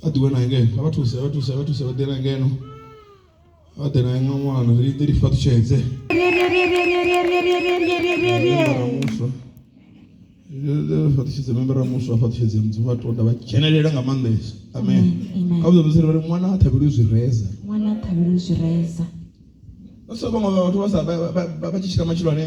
vha ḓi wana ngeno vha thusa vha thusa vha thusa vha ḓela ngeno vha ḓela nga ṅwana ri ḓi lifha ṱutshedze muswa fa ṱutshedze membera muswa fa ṱutshedze mudzi vha tonda vha dzhenelela nga maanḓesa amen kha vhuḓo vhudzela vhari ṅwana a thabelwe zwi reza ṅwana a thabelwe zwi reza so vhaṅwe vhathu vha sa vha tshi tshila matshilo ane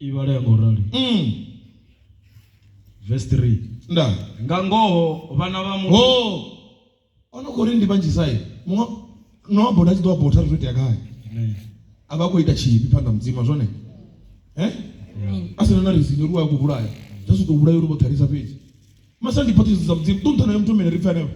I vhala ya nga u rali. Verse 3. Nda. Nga ngoho vhana vha muthu. Ho. Ono khori ndi vhanzhi sai. Muṅwe no amba uri a tshi ḓo amba uri ri tea gai. Amen. A vha khou ita tshivhi phanḓa mudzima zwone. Eh? A sina na reason uri wa khou vhulaya. Zwa zwi tou vhulaya uri vho ṱhalisa fhedzi. Masa ndi phaṱhiso dza mudzimu. Ṱunṱhana ya muthu mene ri pfha henefho.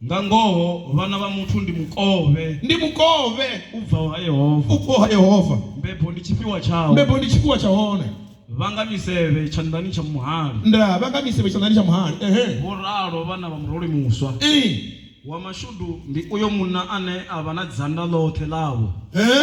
Nga ngoho, vhana vha muthu ndi mukovhe. Ndi mukovhe. U bvaho ha Yehova. U bvaho ha Yehova. Mbebo ndi tshifhiwa tshawe. Mbebo ndi tshifhiwa tsha hone. Vha nga misevhe tshanḓani tsha muhali. Ndaa, vha nga misevhe tshanḓani tsha muhali. Ehe. Vho ralo vhana vha muroli muswa. Ii. Wa mashudu ndi uyo munna ane a vha na dzanda ḽoṱhe ḽavho. Ehe.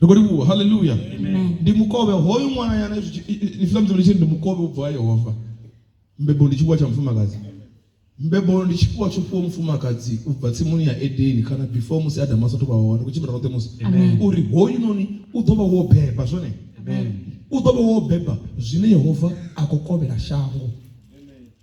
ri khou livhuwa haleluya ndi mukovhe hoyu ṅwana yana ifiḽa mudzimu litshiri ndi mukovhe u bva yehova mbebo ndi tshifhiwa tsha mufumakadzi mbebo ndi tshifhiwa tsho fhiwa mufumakadzi u bva tsimuni ya edeni kana before musi adamu asathu vha hone kutshimbira roṱhe musi uri hoyu noni u ḓo vha wo beba zwone u ḓo vha wo beba zwine yehova a khou kovhela shango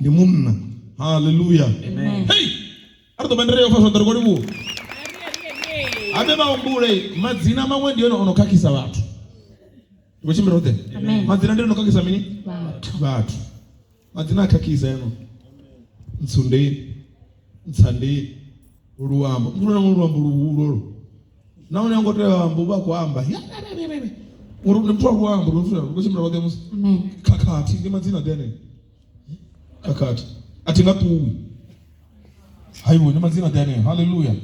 ndi munna haleluya hei a ri ḓo bandere yo fa zwanḓa ri khou livhuwa habe vha humbule madzina maṅwe ndi yone o no khakhisa vhathu ri khou tshimbila roṱhe madzina ndi yone o khakhisa mini vhathu madzina a khakhisa yano ntsundeni ntsandeni luambo muthu na luambo luhulolo na une ngo tea amba u vha khou amba uri ndi muthu wa luambo ri khou tshimbila roṱhe musi khakhathi ndi madzina ḓi aneo khakhathi a thi nga ṱuwi haiwe ndi madzina ḓi aneo halleluya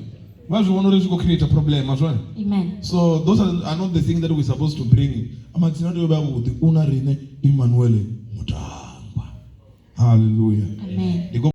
vha zwi vhona uri zwi khou create problem azwone Amen. so those are, are not the thing that we're supposed to bring madzina tea u vha avhuḓi u na riṋe emmanuele mutangwa halleluya Amen. Ndi khou